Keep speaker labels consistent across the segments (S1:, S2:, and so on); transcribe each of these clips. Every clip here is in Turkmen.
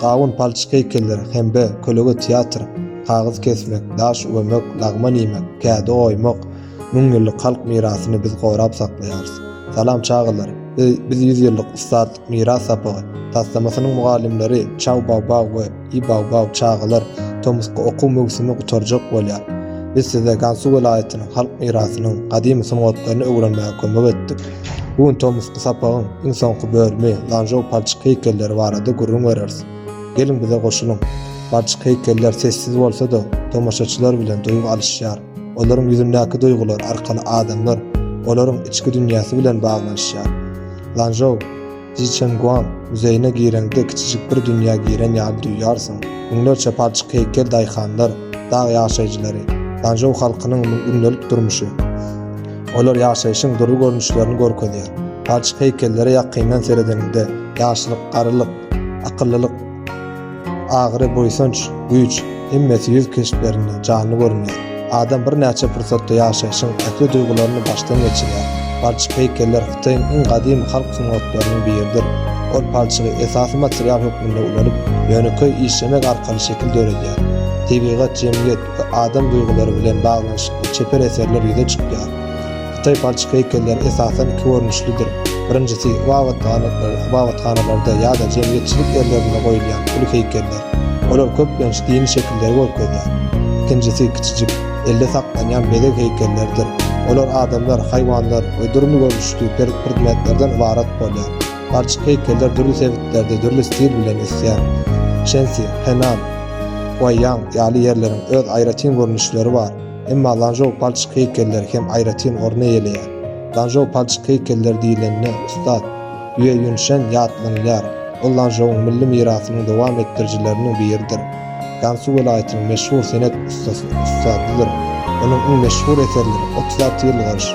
S1: Gawun palçyk heýkelleri hembe kölege teatr, kagyz kesmek, daş üwemek, lagman iýmek, kädi oýmak, müň ýyllyk halk mirasyny biz gorap saklaýarys. Salam çagalar, biz ýüz ýyllyk ussatlyk miras sapagy taslamasynyň mugallymlary Çaw Baobao we. Ýy baw-baw çagalar, tomusky okuw möwsümi gutarjak bolýar. Biz size Gansu welaýatynyň halk mirasynyň gadymy sungatlaryny öwrenmäge kömek etdik. Bu gün tomusky sapagyň iň soňky bölümi Lanžou palçyk heýkelleri barada gürrüň bereris. Geliň bize goşulyň. Palçyk heýkeller sessiz bolsa-da, tomaşaçylar bilen duýgy alyşýar. Olaryň ýüzündäki duýgular arkaly adamlar, olaryň içki dünýäsi bilen baglanyşýar. Lanžou. Jiçenguan muzeýine gireňde kiçijik bir dünýä giren ýaly duýýarsyň. Müňlerçe palçyk heýkel daýhanlar, dag ýaşaýjylary, Ganžou halkynyň gündelik durmuşy. Olar ýaşaýşyň dürli görnüşlerini görkezýär. Palçyk heýkellere ýakyndan seredeniňde, ýaşlyk, garrylyk, akyllylyk, Agyry, buýsanç, güýç, hemmesi ýüz keşplerinde janly görünýär. Adam birnäçe pursatda ýaşaýşyň ähli duýgularyny başdan geçirýär. Palçyk heýkeller Hytaýyň iň gadymy halk sungatlarynyň biridir. Ol palçygy esasy material hökmünde ulanyp, ýönekeý işlemek arkaly şekil döredýär. Tebigat, jemgyýet we adam duýgulary bilen baglanyşykly çeper eserler ýüze çykýar. Hytaý palçyk heýkelleri esasan iki görnüşlidir. Birinjisi, ybadathanalarda ýa-da jemgyýetçilik ýerlerinde goýulýan uly heýkeller. Olar köplenç dini şekilleri görkezýär. Ikinjisi kiçijik, elde saklanýan bezeg heýkelleridir. Olar adamlar, haýwanlar we dürli görnüşli predmetlerden ybarat bolýar. Palçyk heýkeller dürli sebitlerde dürli stil bilen ösýär. Şensi, Henan, Guaýýang ýaly ýerleriň öz aýratyn görnüşleri bar. Emma Lanžou palçyk heýkelleri hem aýratyn orun eýeleýär. Lanžou palçyk heýkelleri diýlende ussat Ýue Ýunşen ýatlanylýar. Ol Lanžouň milli mirasynyň dowam etdirijileriniň biridir. Gansu welaýatynyň meşhur senet ussasy, ussadydyr. Onuň iň meşhur eserleri Otuz alty ýyl gyş,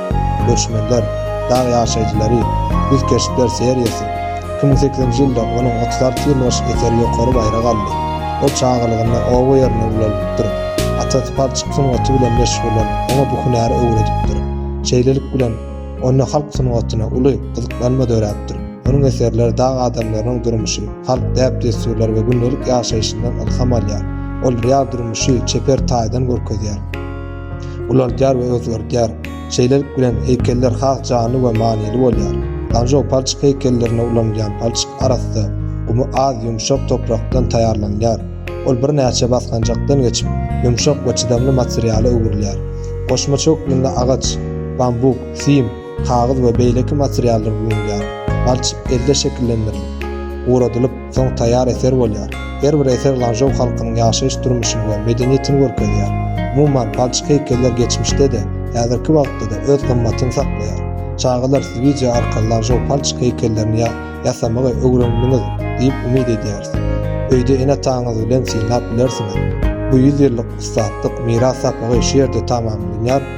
S1: Göçmenler, Dag ýaşaýjylary, Güz keşpler seriýasy, Iki müň sekizinji ýylda onuň otuz alty ýyl baş eseri ýokary baýrak aldy. Ol çagalygynda oba ýerinde ulalypdyr. Atasy palçyk sungaty bilen meşgullanyp, oňa bu hünäri öwredipdir. Şeýlelik bilen, onda halk sungatyna uly gyzyklanma döräpdir. Onuň eserleri dag adamlarynyň durmuşy, halk däp-dessurlary we gündelik ýaşaýşyndan ylham alýar. Ol real durmuşy çeper taýdan görkezýär, ulaldýar we özgerdýär. Şeýlelik bilen, heýkeller has janly we manyly bolýar. Lanžou palçyk heýkellerinde ulanylýan palçyk arassa, gumy az, ýumşak toprakdan taýýarlanýar. Ol birnäçe basgançakdan geçip, ýumşak we çydamly materiala öwrülýär. Goşmaça hökmünde agaç, bambuk, sim, kagyz we beýleki materiallar ulanylýar. Palçyk elde şekillendirilip, guradylyp, soň taýýar eser bolýar. Her bir eser lanžou halkynyň ýaşaýyş-durmuşyny we medeniýetini görkezýär. Umuman, palçyk heýkeller geçmişde-de, häzirki wagtda-da öz gymmatyny saklaýar. Çagalar, siz wideo arkaly lanžou palçyk heýkellerini ýasamagy öwrendiňiz diýip umyt edýäris. Öýde ene-ataňyz bilen synlap bilersiňiz. Bu ýüz ýyllyk ussatlyk miras sapagy şu ýerde tamamlanýar.